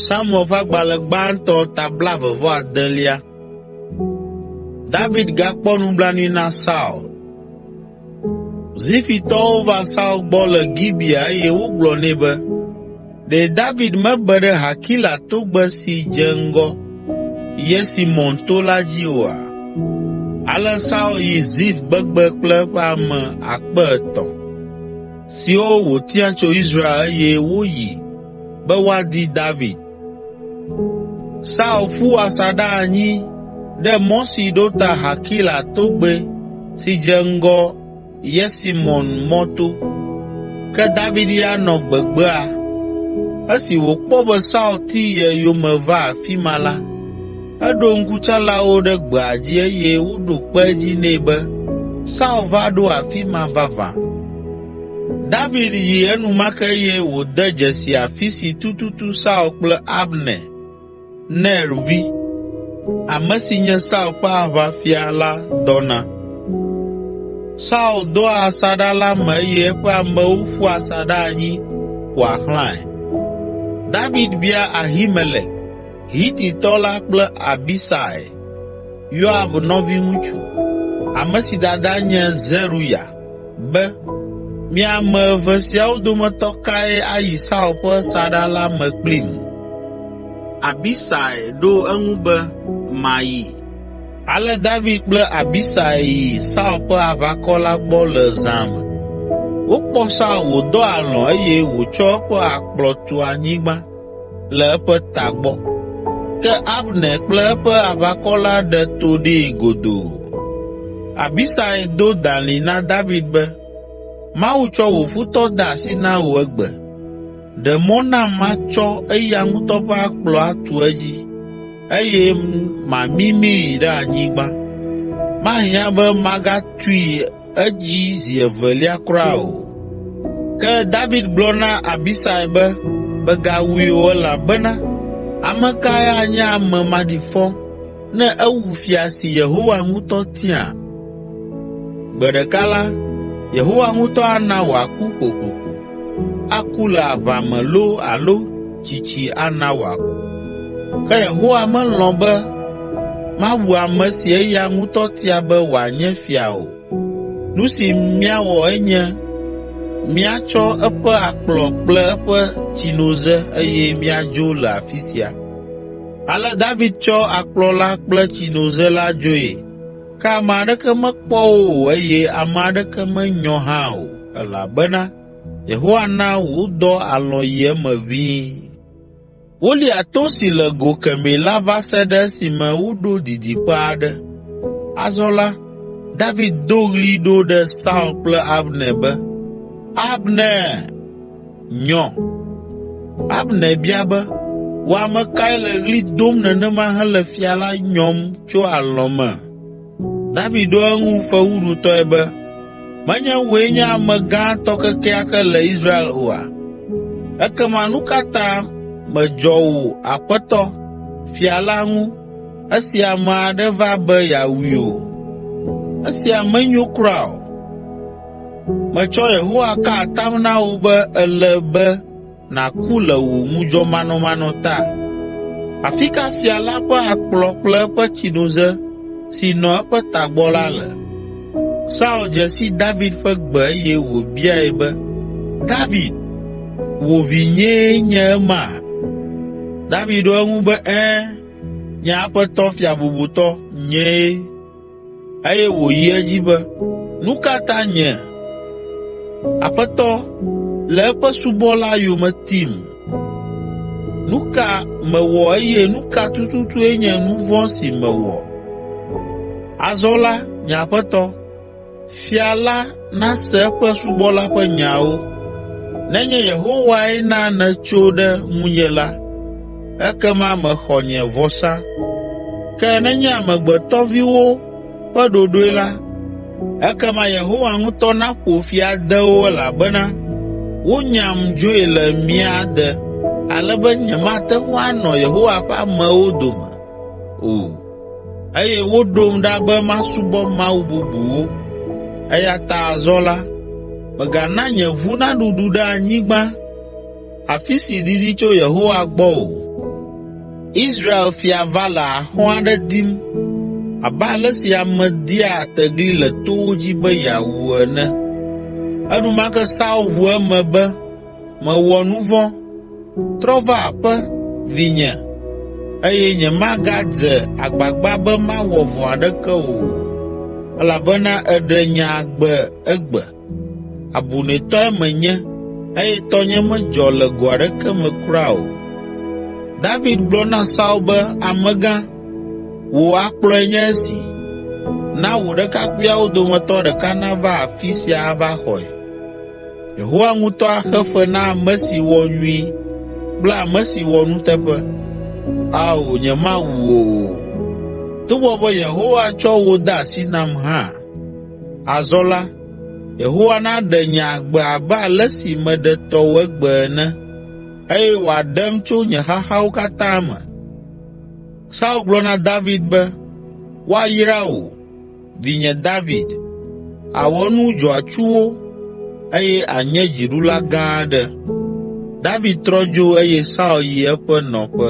Samuel ƒe agbalẽ gbãtɔ ta blaeve vɔ adelia. David gakpɔ nublanui na Saul. Zifitɔwo va Saul gbɔ le Gibea eye wogblɔ nɛ be, “Ɖe David mebe ɖe Hakila togbe si dze ŋgɔ Yesimon to la dzi oa?” Ale Saul yi Zif gbegbe kple eƒe ame akpe etɔ̃. siwo wòtia tso Israel eye woyi be woadi David. Saul ƒu asaɖa anyi ɖe mɔ si ɖo ta Hakila togbɛ si dze ŋgɔ Yesimon mɔto. Ke David ya nɔ gbegbea. Esi wòkpɔ be Saul ti ye yome va afi ma la, Eɖo ŋkutsalawo ɖe gbea dzi eye woɖo kpe edzi nɛ be, “Saul va ɖo afi ma vavã.” David yi enumake eye wòde dzesi afi si tututu Saul kple Abner, Ner vi, ame si nye Saul ƒe aʋafia la dɔna. Saul doa asaɖa la me eye eƒe amewo ƒua asaɖa anyi ƒoa xlãe. David bia Ahimelek, Hititɔ la kple Abisai, Yoab nɔviŋutsu, ame si dada nye Zeruya, be, “Mi ame eve siawo dometɔ kae ayi Saul ƒe saɖa la me kplim?” Abisai ɖo eŋu be, “Mayi.” Ale David kple Abisai yi Saul ƒe aʋakɔ la gbɔ le zã me. Wokpɔ Saul wòdɔ alɔ̃ eye wòtsɔ eƒe akplɔ tu anyigba le eƒe ta gbɔ. Ke Abner kple eƒe aʋakɔ la ɖe to ɖee godoo. Abisai do dalĩ na David be, “Mawu tsɔ wò futɔ de asi na wò egbe. Ɖe mɔ nam matsɔ eya ŋutɔ ƒe akplɔ atu edzi eye mamimii ɖe anyigba. Mahiã be magatui edzi zi evelia kura o. Ke David gblɔ na Abisai be, “Mègawui o elabena ame kae anye ame maɖifɔ ne ewu fia si Yehowa ŋutɔ tia? Gbe ɖeka la, Yehowa ŋutɔ ana wòaku kokoko.” aku le aʋa me loo alo tsitsi ana wòaku. Ke Yehowa melɔ̃ be mawu ame si eya ŋutɔ tia be wòanye fia o. Nu si míawɔ enye míatsɔ eƒe akplɔ kple eƒe tsinoze eye míadzo le afi sia.” Ale David tsɔ akplɔ la kple tsinoze la dzoe, ke ame aɖeke mekpɔ wo o eye ame aɖeke menyɔ hã o. Elabena Yehowa na wodɔ alɔ̃ yi eme ʋĩi. Wolia to si le go kemɛ la va se ɖe esime woɖo didiƒe aɖe. Azɔ la, David do ɣli ɖo ɖe Saul kple Abner be, “Abner, nyɔ!” Abner bia be, “Wò ame kae le ɣli dom nenema hele fia la nyɔm tso alɔ̃ me?” David ɖo eŋu fewuɖutɔe be, “Menye wòe nye ame gãtɔ kekeake le Israel oa? Ekema nu ka ta mèdzɔ wò aƒetɔ, fia la ŋu esi ame aɖe va be yeawui o? Esia menyo kura o! Metsɔ Yehowa ka atam na wò be ele be nàku le wò ŋudzɔmanɔmanɔ ta? Afi ka fia la ƒe akplɔ kple eƒe tsinoze si nɔ eƒe tagbɔ la le?” Saul dze si David ƒe gbe eye wòbiae be, “David, wò vinyee nye ema?” David ɖo eŋu be, “Ẽ, nye aƒetɔ fia bubutɔ, nyee.” Eye wòyi edzi be, “Nu ka ta nye, Aƒetɔ, le eƒe subɔla yome tim? Nu ka mewɔ eye nu ka tututue nye nu vɔ̃ si mewɔ? Azɔ la, nye aƒetɔ, Fia la nase eƒe subɔla ƒe nyawo. Nenye Yehowae na nètso ɖe ŋunye la, ekema mèxɔ nye vɔsa. Ke nenye amegbetɔviwo ƒe ɖoɖoe la, ekema Yehowa ŋutɔ naƒo fi ade wo elabena wonyam dzoe le mía de ale be nyemate ŋu anɔ Yehowa ƒe amewo dome o.” Eye woɖom ɖa be masubɔ mawu bubuwo. Eya ta azɔ la, mègana nye ʋu naɖuɖu ɖe anyigba, afi si didi tso Yehowa gbɔ o. Israel fia va le axɔ̃ aɖe dim abe ale si ame dia tegli le towo dzi be yeawu ene.” Enumake Saul ʋu eme be, Mewɔ nu vɔ̃. Trɔ va aƒe, vinye, eye nyemagadze agbagba be mawɔ vɔ̃ aɖeke o, elabena èɖe nye agbe egbe. Abunɛtɔe menye eye tɔnye medzɔ le go aɖeke me kura o.” David gblɔ na Saul be, “Amegã, wò akplɔe nye esi. Na wò ɖekakpuiawo dometɔ ɖeka nava afi sia ava xɔe.” Yehowa ŋutɔ axe fe na ame si wɔ nyui kple ame si wɔ nuteƒe. Ao, nyemawu wò o, togbɔ be Yehowa tsɔ wò de asi nam hã. Azɔ la, Yehowa naɖe nye agbe abe ale si meɖe tɔwò egbe ene eye wòaɖem tso nye xaxawo katã me.” Saul gblɔ na David be, “Woayra wò.” Vinye David, àwɔ nu dzɔatsuwo eye ànye dziɖula gã aɖe.” David trɔ dzo eye Saul yi eƒe nɔƒe.